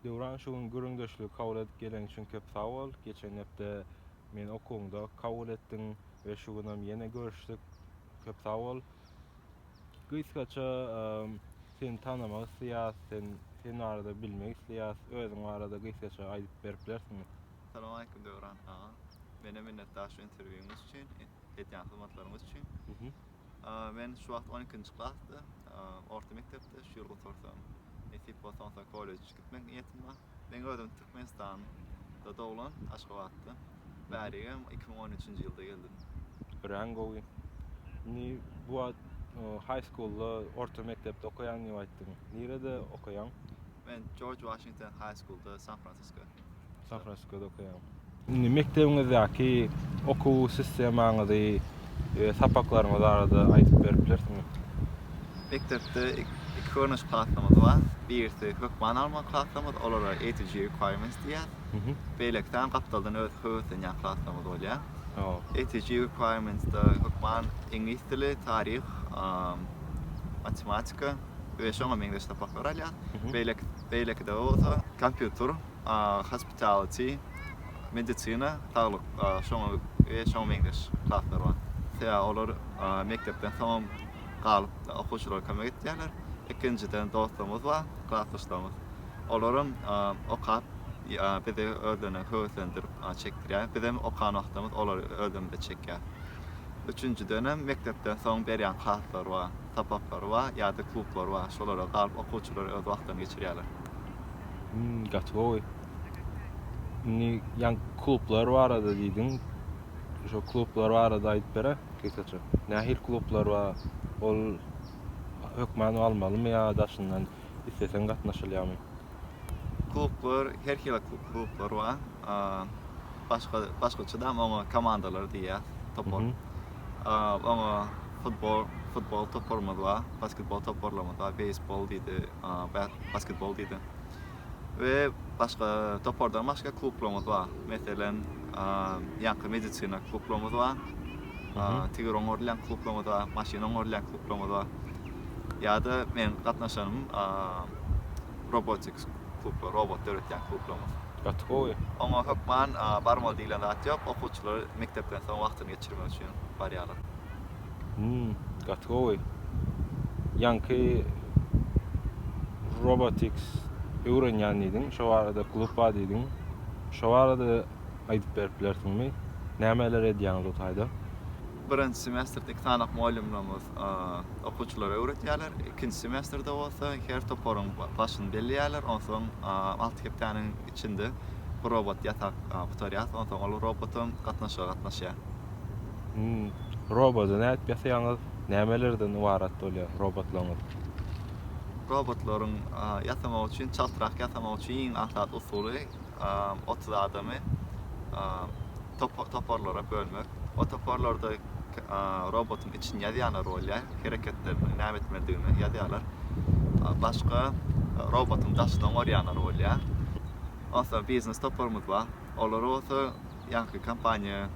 Döwran şu gün gürrüňdeşligi kabul edip geleň üçin köp sag bol. Geçen hepde meni okuwyňda kabul etdiň we şu günem ýene görüşdik. Köp sag bol. Gysgaça seni tanamak isleýäs, sen sen barada bilmek isleýäs. Özüň barada gysgaça aýdyp berip bilersiňmi? Salam aleýkum Döwran aga. Mena minnetdar şu interwýuňyz üçin, edýän hyzmatlaryňyz üçin. Men şu wagt on ikinji klasda, orta mekdepde, şu ýyl gutarsam, nesip bolsa onsa kollej gitmek niýetim bar. Men özüm Türkmenistanda doglan, Aşgabatda. Bärigem iki müň on üçünji ýylda geldim. Örän gowy. Indi bu wagt high schoolda, orta mekdepde okaýan diýip aýtdyň. Nirede okaýaň? Men Jorj Waşington high schoolda, San-Fransisko. Şahrasykada okaýan. Indi mekdebiňizdäki okuw sistemaňyzy we sapaklaryňyz barada aýdyp berip bilersiňiz? Mekdepde iki görnüş klaslarymyz bar. Birisi hökman almaly klaslarymyz, olara ATG requirements diýýär. Beýleki sany gapdaldan özi höweslenýän klaslarymyz bolýar. ATG requirements-de hökman iňlis dili, taryh, matematika. we şoňa meňzeş sapaklary alýar. Beýleki beýlekide bolsa kompýuter, hospitality, medisina, saglyk, şoňa we şoňa meňzeş klaslar bar. Sebäbi olar mekdepden soňam galyp okuwçylara kömek etýärler. Ikinjiden dostlarymyz bar, klasdaşlarymyz. Olaram okap bizi özlerine höweslendirip çekdirýär. Bizem okan wagtymyz olary özlerimize çekýär. Üçünjiden hem mekdepden soň berýän klaslar bar. sapaklary bar ýa-da klublary bar. Şolara galyp okuwçylar öz wagtlaryny geçirýärler. Hmm, gaty gowy. Indi ýan klublar barada diýdiň. Şo klublar barada aýdyp bere gysgaça. Nähili klublar bar? Ol hökman almalymy ýa daşyndan isleseň gatnaşylýamy? Klublar, her hili klublar bar. Başga, başgaça-da oňa komandalar diýýär, topar. Oňa Futbol, futbol toparymyz bar, basketbol toparlarymyz bar, beýsbol diýdi, basketbol diýdi. We başga topardan başga klublarymyz bar. Meselem, ýaňky medisina klublarymyz bar. Tigir oňarylýan klublarymyz bar, maşyn oňarylýan klublarymyz bar. Ýa-da men gatnaşanym robotics klublar, robot döretýän klublarymyz. Gaty gowy. Oňa hökman barmaly diýlen zat ýok, okuwçylar mekdepden soň wagtyny geçirmek üçin barýarlar. Hum gaty gowy. Ýaňky Robotics öwrenýän diýdiň, şo barada klub bar diýdiň. Şo barada aýdyp berip bilersiňmi? Nämeler edýäňiz o taýda? Birinji semesterde iki sany mugallymlarymyz okuwçylara öwretýärler. Ikinji semesterde bolsa her toparyň başyny belleýärler, onsoň alty hepdäniň Içinde bir robot ýatak gutarýar, onsoň ol robotam gatnaşyga gatnaşýar. Hum. Robody nädip ýasaýaňyz? Nämelerden ybarat bolýar robotlaryňyz? Robotlaryň ýasamagy üçin, çaltrak ýasamagy üçin iň aňsat usuly otuz adamy toparlara bölmek. O toparlarda robotyň içini ýazýanlar bolýar, hereketlerini, näme etmelidigini ýazýarlar. Başga robotyň daşyny oňarýanlar bolýar. Onsoň biznes toparymyz bar. Olar bolsa ýaňky kompaniýa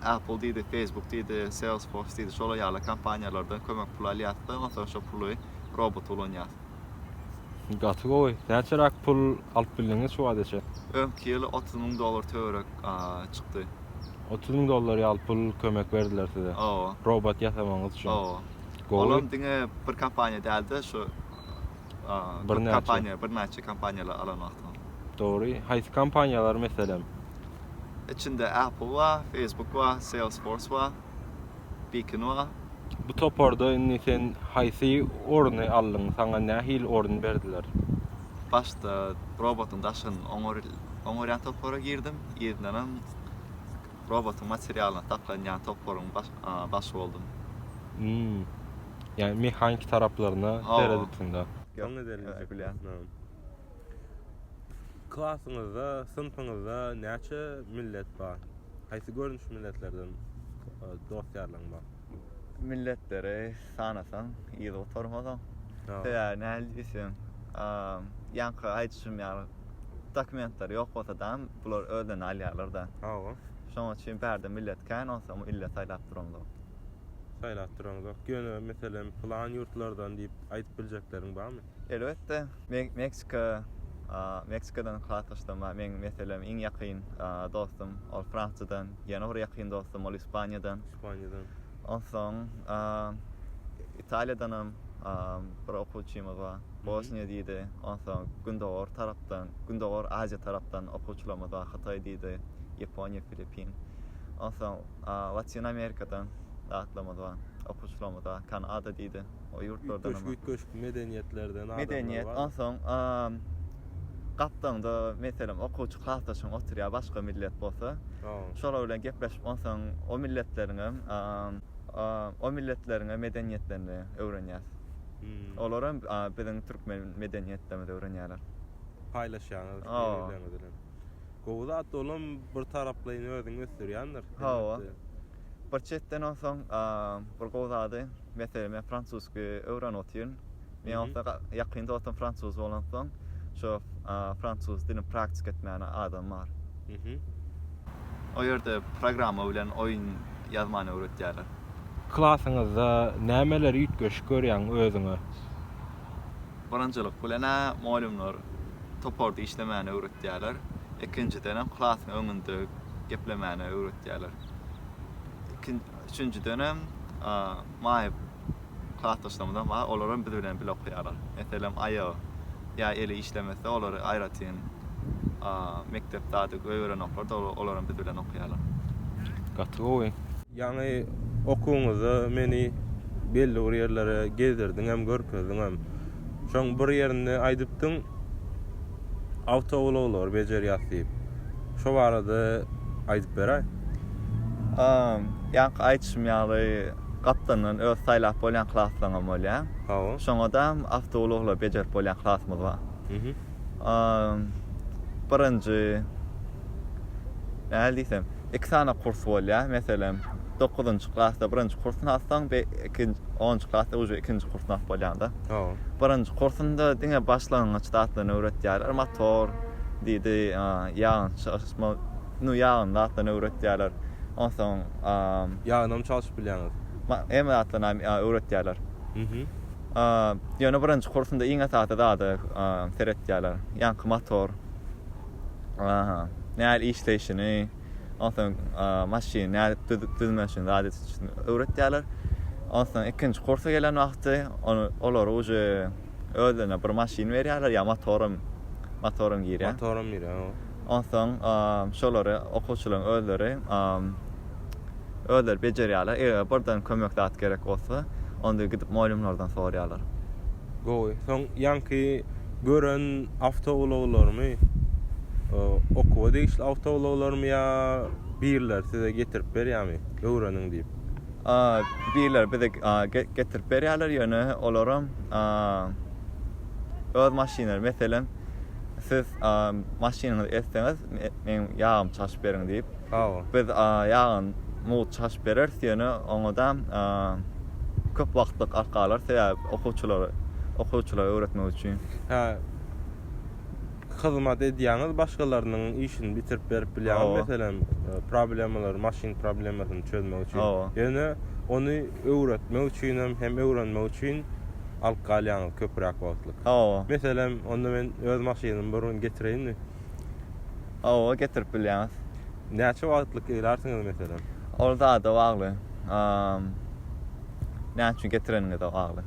Apple diýdi, Facebook diýdi, Salesforce diýdi, şolar ýaly kompaniýalardan kömek pul alýarys-da, onsoň şo puly robota ulanýarys. Gaty gowy. Näçeräk pul alyp bildiňiz şu wagta çenli? Öňki ýyl otuz müň dollar töweregi. çykdy. Otuz müň dollar ýaly pul kömek berdiler size. Hawa. Robot ýasamagyňyz üçin. Hawa. Olam diňe bir kompaniýa däldi, şu köp kompaniýa, birnäçe kompaniýalar alan wagtym. Dogry. Haýsy kompaniýalar meselem? Içinde Apple bar, Facebook bar, Salesforce bar. Bikinova. Bu toparda indi sen haýsy orny aldyň, saňa nähili orun berdiler? Başda robotyň daşyny oňarýan topara girdim, yzyndanam robotyň materialyna saklanýan toparyň başy boldum. Ýagny mehaniki taraplaryna seredipsiň-de. Klasyňyzda, synpyňyzda näçe millet bar? Haýsy görnüş milletlerden dost-ýarlaň bar? Milletleri sanasaň, yzy gutarmaz oň. Sebäbi nähili diýseň, ýaňky aýdyşym ýaly, dokumentleri ýok bolsa dam, bular özlerini alýarlar-da. Hawa. Şonuň üçin bärde millet kän, onsoňam ille saýlap duraňzok. Saýlap duraňzok. Ýöne, meselem, pylan ýurtlardan diýip aýdyp biljekleriň barmy? Elbetde, Meksika, Meksikadan hasalaşsam, meň meselem iň ýakyn dostum, ol Fransiýadan, ýene bir ýakyn dostum, ol Ispaniýadan. Ispaniýadan. Onsoň, Italiýadanam bir okuwçymyz bar, Bosniýa diýdi, onsoň Gündogar tarapdan, Gündogar Aziýa tarapdan okuwçylarymyz bar, Hytaý diýdi, Ýaponiýa, Filippin. Onsoň, Latyn Amerikadan zatlarymyz bar, okuwçylarymyz bar, Kanada diýdi. O ýurtlardan hem. Üýtgeşik-üýtgeşik medeniýetlerden adamlar bar. Medeniýet, onsoň gapdagyňda, meselem, okuwçy klasdaşyň oturýar, başga millet bolsa. Şolar bilen gepleşip, onsoň o milletleriň hem, o milletleriň hem medeniýetlerini öwrenýäs. Olar hem biziň türkmen medeniýetlerimizi öwrenýärler. Paýlaşýaňyz bir-birleriňiz bilen. Gowy zat, ol hem bir taraplaýyn özüňi ösdürýändir. Hawa. Bir çetden onsoň bir gowy zady, meselem men fransuzsky öwrenip otyryn. Men onsoň ýakyn dostum fransuz bolansoň, şo fransuz dilini praktika etmäne adam bar. O ýerde programma bilen oýun ýazmany öwretýärler. Klasyňyzda nämeleri üýtgeşik görýäň özüňe? Birinjilik bilen-ä mugallymlar toparda işlemäni öwretýärler. Ikinjidenem klasyň öňünde geplemäni öwretýärler. Üçünjidenem maýa klasdaşlarymyzam bar, olar hem biz bilen bile okaýarlar. Meselem, aýagy ýa eli işlemese, olary aýratyn mekdepde ady göýberenoklar-da, olar hem biz bilen okaýarlar. Gaty gowy. Ýaňy okuwňyzda meni belli bir ýerlere gezdirdiňem, görkezdiňem. Şoň bir ýerinde aýdypdyň, awtoulaglary bejerýäs diýip. Şo barada aýdyp beräý. A, ýaňky aýdyşym ýaly, gapdandan öz saýlap bolýan klaslaňam bolýar. Hawa. Şoňadam awtoulaglar bejerip bolýan klasymyz bar. birinji, nähili diýsem, iki sany kurs bolýar. Meselem, dokuzynjy klasda birinji kursuny alsaň, be, ikinji, onunjy klasda uje ikinji kursuny alyp bolýar-da. Hawa. Birinji kursunda diňe başlangyç zatlaryny öwretýärler, motor, diýdi, ýagyn çalyşma, nu, ýagyn zatlaryny öwretýärler. Onsoň, Ýagynam çalşyp bilýäňiz? Ma, hemme zatlaryny öwretýärler. Mhm. Ýöne birinji kursunda iň esasy zada seretýärler. Ýaňky motor nähili işleýşini, onsoň maşyny nädip düzüp düzmeşini zada öwretýärler. Onsoň ikinji kursa gelen wagty olara uje özlerine bir maşyn berýärler, ýa motoram, motoram girýär. Motoram girýär. Onsoň şolary okuwçylaryň özleri özleri bejerýärler. Eger birden kömek zat gerek bolsa, onda gidip mugallymlardan soraýarlar. Gowy. Soň ýaňky gören awtoulaglarymy okuwa degişli awtoulaglarymy ýa birler size getirip berýärmi, öwreniň diýip? Birler bize getirip berýärler, ýöne olaram öz maşynlary, meselem, Siz maşynyňyzy etseňiz, meň ýagymy çalşyp beriň diýip. Biz ýagyny mugt çalşyp bereris, ýöne oňa-da köp wagtlyk arka alarys, sebäbi okuwçylary, okuwçylara öwretmek üçin. Hä, hyzmat edýäňiz, başgalarynyň işini bitirip berip bilýäňiz, meselem, problemalary, maşyn problemasyny çözmek üçin. Ýöne ony öwretmek üçinem hem öwrenmek üçin alyp galýaňyz köpräk wagtlyk. Hawa. Meselem, onda men öz maşynymy bir gün getireýinmi? Hawa, getirip bilýäňiz. Näçe wagtlyk gelärsiňiz, meselem? Ol zada bagly. Näçe getireniňize bagly.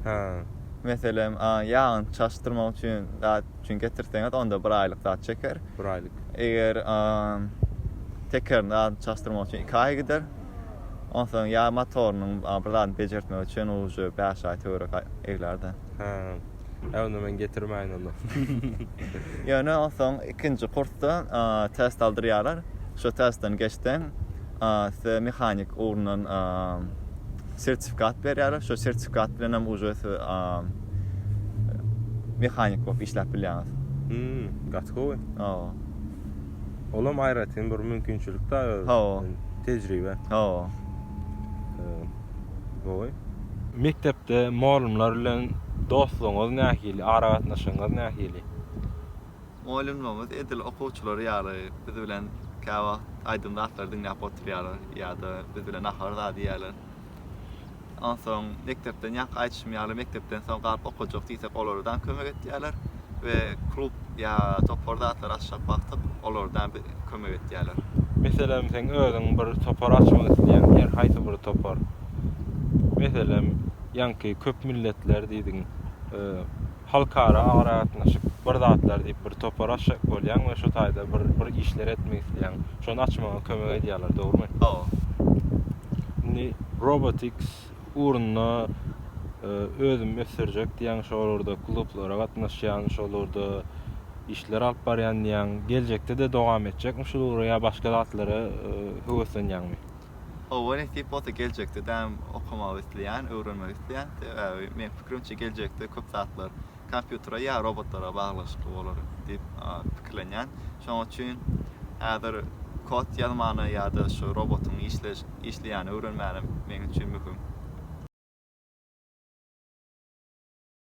Hä. Meselem, ýagyny çalyşdyrmak üçin zat üçin getirseňiz, onda bir aýlyk zat çeker. Bir aýlyk. Eger tekerini çalyşdyrmak üçin iki aý gider. Onsoň ýa motorynyň bir zadyny bejertmek üçin uje bäş aý töwerek eglärdi. Hä. Ä onda men getirmäýin onda. Ýöne onsoň ikinji kursda test aldyrýarlar. Şo testden geçseň, size mehanik ugrundan sertifikat berýärler. Şo sertifikat bilen hem uje siz mehanik bolup işläp bilýäňiz. Hmm, gaty gowy. Hawa. Olam aýratyn bir mümkinçilik da öz. Hawa. Tejribe. Hawa. Gowy. Mekdepde molymlar bilen dostlugyňyz nähili, aragatnaşygyňyz nähili? Molymlarymyz edil okuwçylar ýaly biz bilen käwagt aýdym zatlary diňläp oturýarlar ýa-da biz bilen nahar zat iýýärler. Onsoň mekdepden ýaňky aýdyşym ýaly mekdepden soň galyp okajak diýsek olardan kömek etýärler we klub ýa topar zatlary açjak wagtyk olardan bi kömek etýärler. Meselem seň özüň bir topar açmak isleýäň her haýsy bir topar. Meselem ýaňky köp milletler diýdiň. Halkara aragatnaşyk bir zatlar diýip bir topar açjak bolýaň we şu taýda bir bir işler etmek isleýäň. Şony açmaga kömek edýärler, dogrumy? Hawa. Indi robotics ugrunda özümi ösdürjek diýýäň, şolarda klublara gatnaşýan, şolarda işler alyp barýan diýýäň. Geljekde-de dowam etjekmi şul ugra ýa başga zatlara höweslenýäňmi? Hawa nesip bolsa geljekde däm okamagy isleýän, öwrenmegi isleýän. Sebäbi meň pikirimçe geljekde köp zatlar kompýutere ýa robotlara baglyşykly bolar diýip pikirlenýän. Şonuň üçin häzir kod ýazmany ýa-da şu robotyň işleş işleýäni öwrenmänim meň üçin möhüm.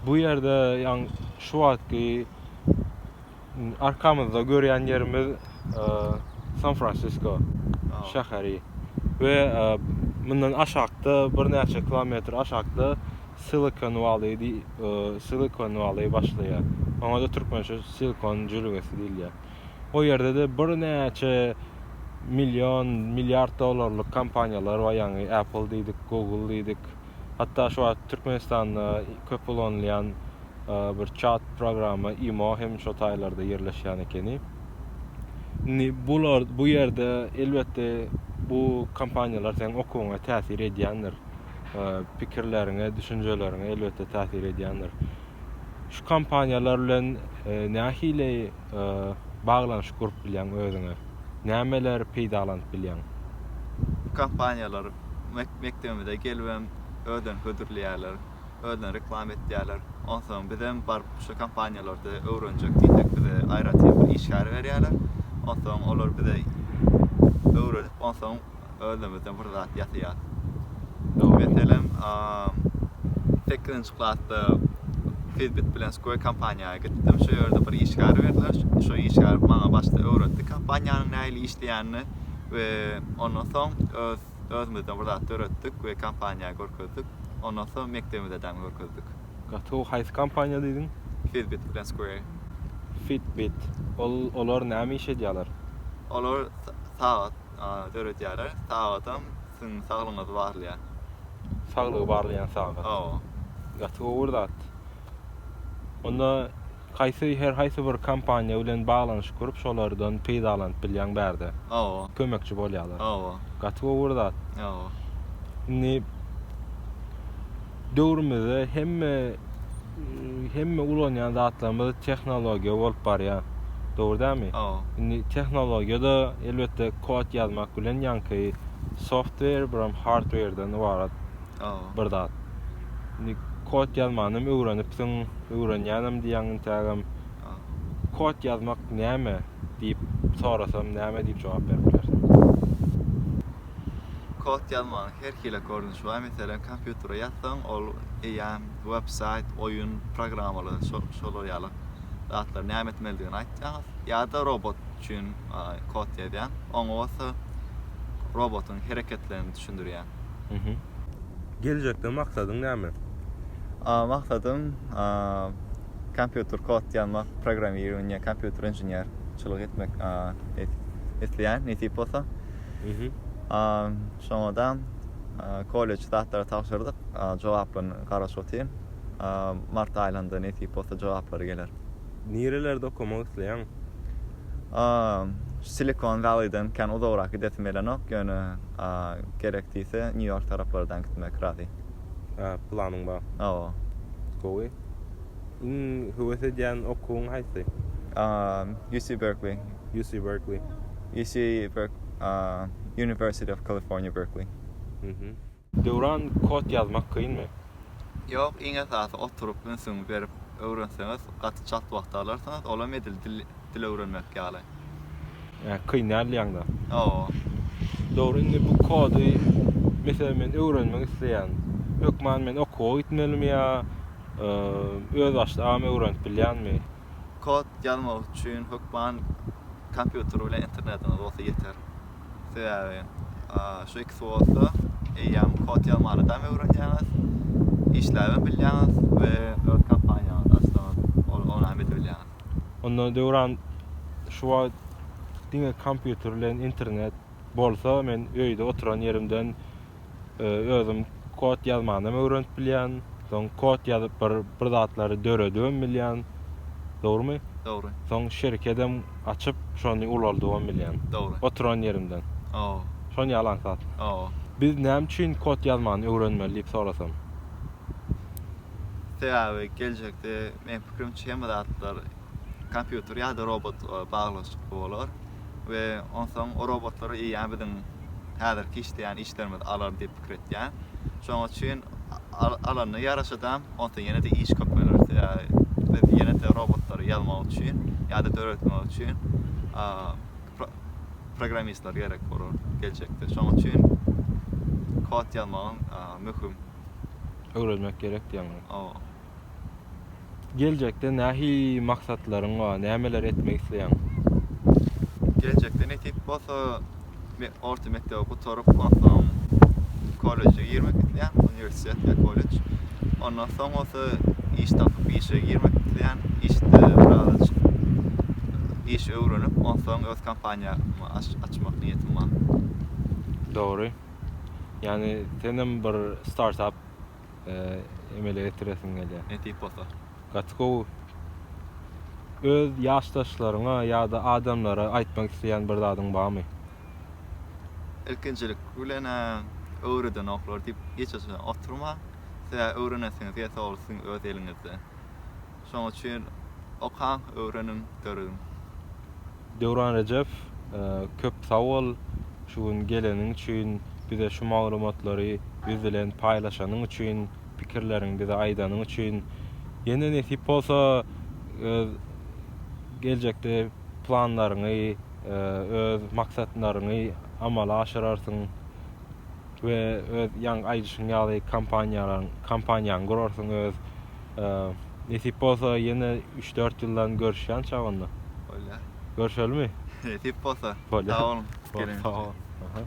Bu ýerde ýaňy şu wagtky arkamyzda görýän ýerimiz San Fransisko şäheri we mundan aşakda birnäçe kilometr aşakda Silikon Wally Silikon Wally başlaýar. Oňa-da türkmençe Silikon jülgesi diýilýär. O ýerde-de birnäçe million, milliard dollarlyk kompaniýalar bar, ýaňy Apple diýdik, Google diýdik, Hatda şu wagt Türkmenistanda köp ulanylýan bir çat programma imo hem şo taýlarda ýerleşýän ekeni. Indi bular bu ýerde elbetde bu kompaniýalar seň okuwyňa täsir edýändir. Pikirleriňe, düşünjeleriňe elbetde täsir edýändir. Şu kompaniýalar bilen nähili baglanyşyk gurup bilýäň özüňe? Nämeleri peýdalanyp bilýäň? Kompaniýalar mekdebimize gelibem özlerini hödürleýärler, özlerini reklama etýärler. Onsoň bizem baryp şu kompaniýalarda öwrenjek diýsek bize aýratyn bir işgär berýärler. Onsoň olar bize öwredip onsoň. özümizden bir zat ýasaýas. Meselem, sekizinji klasda Fitbit bilen Square kompaniýa gitdim. Şo ýerde bir işgär berdiler. Şo işgär maňa başda öwretdi kompaniýanyň nähili işleýänini we ondan soň öz özümizden bir zat döretdik we kompaniýa görkezdik. Ondan soň mekdebimize däm görkezdik. Gaty gowy. Haýsy kompaniýa diýdiň? Fitbit bilen Square. Fitbit. Ol olar näme iş edýärler? Olar sagat. döredýäler. Sagatam siziň saglygyňyzy barlaýar. Saglygy barlaýan sagat. Hawa. Gaty gowy bir zat. Onda haýsy her haýsy bir kompaniýa bilen baglanyşyk gurup şolardan peýdalanyp bilýäň bärde. Hawa. Kömekçi bolýarlar. Hawa. Gaty gowy bir zat. Hawa. Indi. Döwrümizde hemme hemme ulanýan zatlarymyz tehnologiýa bolup barýar. Dogry dälmi? Indi tehnologiýada elbetde kod ýazmak bilen ýaňky software biram hardware-den ybarat bir zat. Indi kod ýazmanam öwrenipsiň, öwrenýänem diýýäň intägem. Kod ýazmak näme diýip sorasam näme diýip jogap berip bilersiň? Kod ýazmagyň her hili görnüşi bar. Meselem, kompýutere ýazsaň, ol eýýäm websaýt, oýun programmalary, şolar ýaly zatlar näme etmelidigini aýtýar. Ýa-da robot üçin kod ýazýar. Oňa bolsa robotyň hereketlerini düşündirýär. Geljekde maksadyň näme? Maksadym kompýuter kod ýazmak, programmirowaniýe, kompýuter inženerçilik etmek isleýän, nesip bolsa. Şoňa-da kolleç zatlara tabşyrdyk. Jogaplaryny garaşyp otyryn. Mart aýynda nesip bolsa jogaplary geler. Nirelerde okamak isleýäň? Silikon Welliden kän uzagrak gidesim gelenok, ýöne gerek diýse Nýu-Ýork taraplardan gitmek razy. Hä, planyň bar. Hawa. Gowy. Iň höwes edýän okuwyň haýsy? UC Berkeley. UC Berkeley. UC Berk aaa University of California Berkeley. Mhm. Döwran kod ýazmak kynmy? Ýok, iň esasy oturyp ünsüňi berip öwrenseňiz gaty çalt wagt alarsyňyz, olam edil dil dil öwrenmek ýaly. Ýa kyn däl diýýäňda. Hawa. Dogry indi bu kody meselem men öwrenmek isleýän. Hökman men okuwa gitmelimi ýa öz başda am öwrenip bilýänmi? Kod ýazmak üçin hökman kompýuter bilen internetiňiz bolsa ýeter. Sebäbi şu ikisi bolsa eýýäm kod ýazmany dam öwrenýäňiz, işläbem bilýäňiz we öz kompaniýaňyzy açsaňyz ol onam edip bilýäňiz. Onda Döwran şu wagt diňe kompýuter bilen internet bolsa men öýde oturan ýerimden Özüm kod ýazmanam öwrenip bilýän. Soň kod ýazyp bir bir zatlary döredibem bilýän. Dogrymy? Dogry. Soň şirkedem açyp şony ulaldybam bilýän. Dogry. Oturan ýerimden. Hawa. Şony ýalan zat. Hawa. Biz näme üçin kod ýazmany öwrenmeli diýip sorasam? Sebäbi geljekde meň pikirimçe hemme zatlar kompýuter ýa-da robot baglanyşykly bolar. we onsoň o robotlary EA biziň häzirki işleýän işlerimizi alar diýip pikir etýän. Şonuň üçin alanyna ýaraşada onsoň ýene-de iş köpeler. Sebäbi biz ýene-de robotlary ýazmak üçin ýa-da döretmek üçin programmistler gerek bolar geljekde. Şonuň üçin kod ýazmagyň möhüm. Öwrenmek gerek diýýäňizmi? Hawa. Geljekde nähili maksatlaryň bar, nämeler etmek isleýäň? Geljekde nesip bolsa, men orta mekdebi gutaryp, onsoň kolleje girmek isleýän, uniwersitet ýa kollej. Ondan soň bolsa iş tapyp, işe girmek isleýän, işde birazajyk iş öwrenip, onsoň öz kompaniýamy açmak niýetim bar. Dogry. Ýagny, senem bir startap. emele getiresim gelýär. Nesip bolsa. Gaty gowy. Öz ýaşdaşlaryňa ýa-da adamlara aýtmak isleýän bir zadyň barmy? Ilkinjilik bilen öwredenoklar diýip giç oturmaň. Siz öwrenesiňiz ýa-da ol siziň öz eliňizde. Şonuň üçin okaň, öwreniň, dörediň. Döwran Rejep köp sag bol şu gün geleniň üçin bize şu maglumatlary biz bilen paýlaşanyň üçin pikirleriň bize aýdanyň üçin ýene nesip bolsa öz geljekde planlaryňy öz maksatlaryňy amala aşyrarsyň we öz ýaňy aýdyşyň ýaly kompaniýalaň kompaniýaňy gurarsyň öz Nesip bolsa ýene üç-dört ýyldan görüşýän çagynda. Bolýar. Görüşelimi? Nesip bolsa. Bolýar. Sag boluň. Sag boluň.